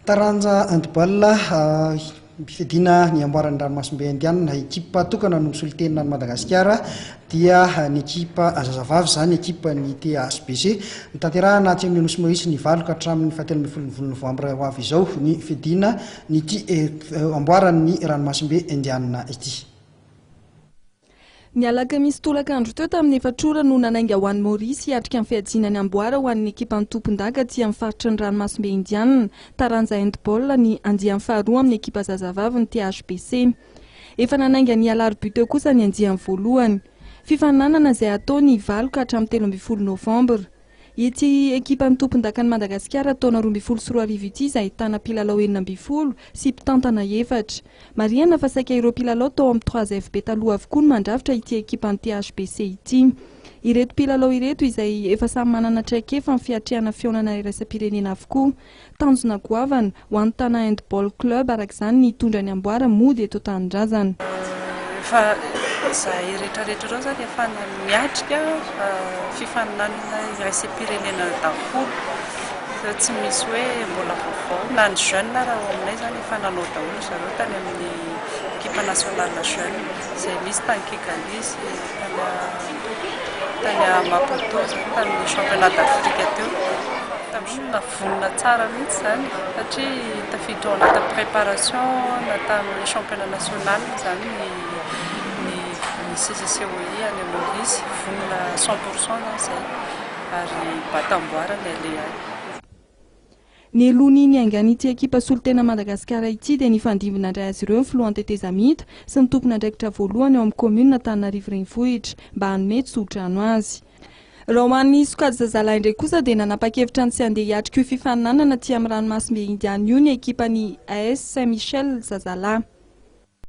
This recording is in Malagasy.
Taranja handball fiadiana ny amboaran'ny ranomasimbe indianina ekipa tokana no misolo tena ny Madagasikara dia ny ekipa zazavavy izany ekipa ny THBC nitanterahana atsy amin'ny Nosy Maurice ny valo ka hatramin'ny fahatelo ambin'ny folo volon'ny novambra ho avy izao ny fiadiana ny amboaran'ny ranomasimbe indianina ity Ny alakamisy tolakandro teo tamin'ny efatra ora no nanainga ho any Maorisy hiatrika ny fiajiana ny amboara ho an'ny ekipan'ny tompondaka aty amin'ny faritry ny ranomasimbe indianina, taranja handball, ny andiany faharoa amin'ny ekipa zazavavy ny THBC. Efa nanainga ny alarobia teo kosa ny andiany voalohany. Fifaninanana izay hatao ny valo ka hatramin'ny telo ambin'ny folo novambra. Ity ekipan'ny tompondakan'i Madagasikara taona roa ambin'ny folo sy roa arivo ity izay ahitana mpilalao enina ambin'ny folo sy mpitantana efatra. Marihana fa saika ireo mpilalao tao amin'ny trois FB taloha avokoa no mandrafitra ity ekipan'ny THBC ity. Ireto mpilalao ireto izay efa samy manana traikefa amin'ny fiatrehana fihaonana iraisam-pirenena avokoa. Tanjona goavana ho an'ny Tana Handball Club araka izany ny hitondra ny amboara mody eto an-tanindrazana. Efa izahay rehetrarehetra ireo izany efa niatrika fifaninanana iraisam-pirenena daholo fa tsy misy hoe mbola vaovao. Na ny jeunes ary ao aminay izany efa nanao daholo ry zareo tany amin'ny equipe nationale jeune izay nisy tany Kigali sy tany Maputo izany tamin'ny championnat d'Afrique teo. Tena vonona tsara mihitsy izany satria tafiditra ao anatin'ny préparation nataon'ny championnat national izany ny ny ny CCCOI any Maorisy. Vonona cent pour cent zany izay ary batam-boara ny aleha any. Ny helohany niaingan'ity ekipa solontena Madagasikara ity dia nifandimby nandray azy ireo ny filohan'ny tetezamita sy ny tompon'andraikitra voalohany ao amin'ny kaominina Antananarivo Renivohitra mba hanome tsodrano azy. Raha ho an'ny sokajy zazalahy indray kosa dia nanapa-kevitra ny tsy handeha hiatrika io fifaninanana aty amin'ny ranomasimbe Indiana io ny ekipan'ny AS Saint Michel zazalahy.